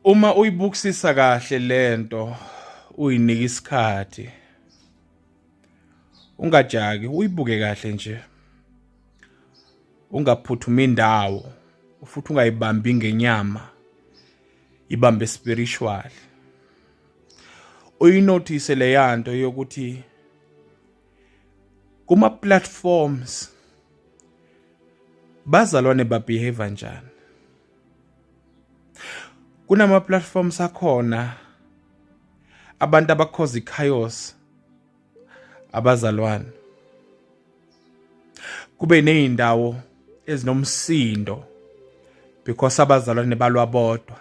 uma uyibukisisa kahle lento uyinika isikhathi ungajaki uyibuke kahle nje ungaphuthuma indawo futhi ungayibambi ngenyama ibambe spiritual uyinothise leyanto yokuthi kuma platforms bazalwane ba behave njani kunama platforms akhona abantu abakhoza ichaos abazalwane kube nezindawo ezinomsindo because abazalwane balwa bodwa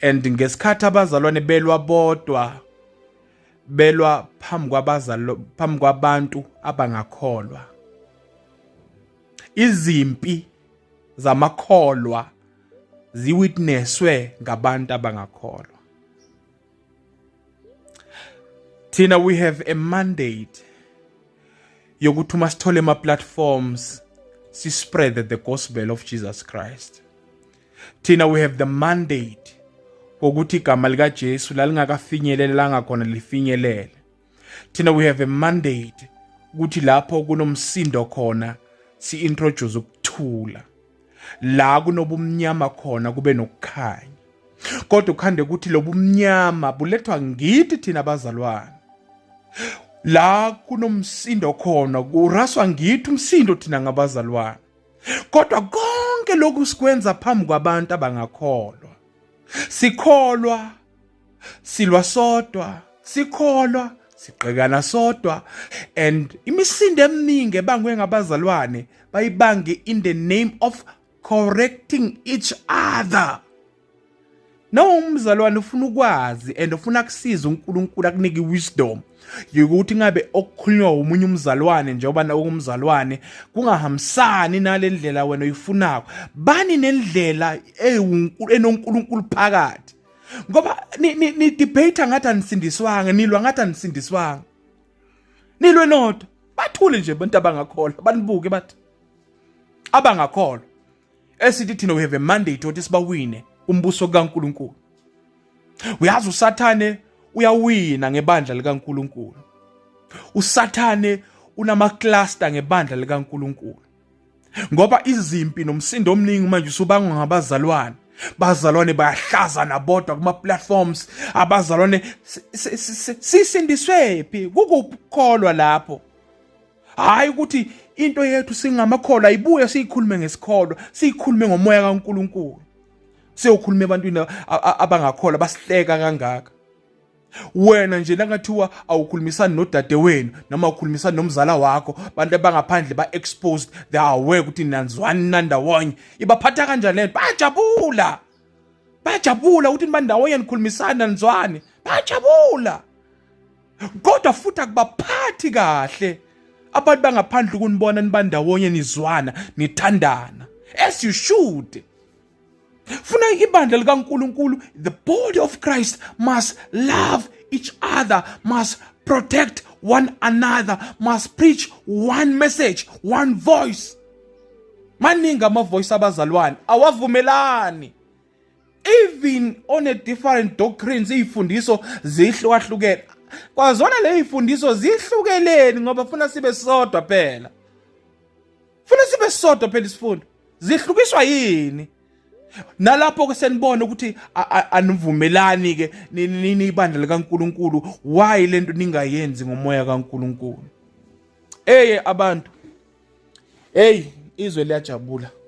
and ngesikhathi abazalwane belwa bodwa belwa phambi kwabazalo phambi kwabantu abangakholwa izimpi zamakholwa ziwitnesswe ngabantu abangakholwa thina we have a mandate yokuthi uma sithole ama platforms si spread the gospel of Jesus Christ thina we have the mandate wokuthi igama likaJesu lalingakafinyelelanga khona lifinyelele thina we have a mandate ukuthi lapho kunomsindo khona si-introduce ukuthula la kunobumnyama khona kube nokukhanya kodwa ukhande ukuthi lobu mnyama bulethwa ngithi thina bazalwane la kunomsindo khona kuraswa ngithi umsindo thina ngabazalwane kodwa konke lokhu sikwenza phambi kwabantu abangakholwa sikholwa silwa sodwa sikholwa siqekana sodwa and imisindo eminingi ebangwe ngabazalwane bayibange in the name of correcting each other nawe umzalwane ufuna ukwazi and ufuna kusiza uNkulunkulu akunike wisdom yokuthi ngabe okukhulunywa umunye umzalwane njengoba nakumzalwane kungahambisani nalendlela wena uyifunako bani nendlela enoNkulunkulu phakathi ngoba nidebate ngathi anisindiswanga nilwa ngathi anisindiswanga nilwe nodwa bathule nje abantu abangakholwa banibuke bathi abangakholwa esithi thina we have a mandate othi sibawine umbuso kaNkuluNkulu uyazi usathane uyawina ngebandla likaNkuluNkulu usathane unamacluster ngebandla likaNkuluNkulu ngoba izimpi nomsindo omningi manje usubangwa ngabazalwane bazalwane bayahlaza nabodwa kuma-platforms abazalwane sisindiswe phi kukukholwa lapho hhayi ukuthi into yethu singamakholwa ayibuye siyikhulume ngesikholwa siyikhulume ngomoya kankulunkulu siyokhuluma ebantwini abangakholwa basihleka kangaka wena nje nakungathiwa awukhulumisani nodade wenu noma ukhulumisani nomzala wakho bantu abangaphandle ba-exposed they are aware ukuthi nanzwani nandawonye ibaphatha kanjani lento bayajabula bayajabula ukuthi nibandawonye nikhulumisani nanizwani bayajabula kodwa futhi akubaphathi kahle abantu bangaphandle ukunibona nibandawonye nizwana nithandana as you should funa ibandla likaNkulunkulu the body of Christ must love each other must protect one another must preach one message one voice maningi amavoice abazalwane awavumelani even on a different doctrines izifundiso zihlukahlukene kwazona lezifundiso zihlukeleni ngoba funa sibe sodwa phela funa sibe sodwa phela isifundo zihlukiswa yini nalapho ke senibona ukuthi anivumelani ke nini ibandla likaNkuluNkulu why lento ningayenzi ngomoya kaNkuluNkulu eye abantu hey izwe liyajabula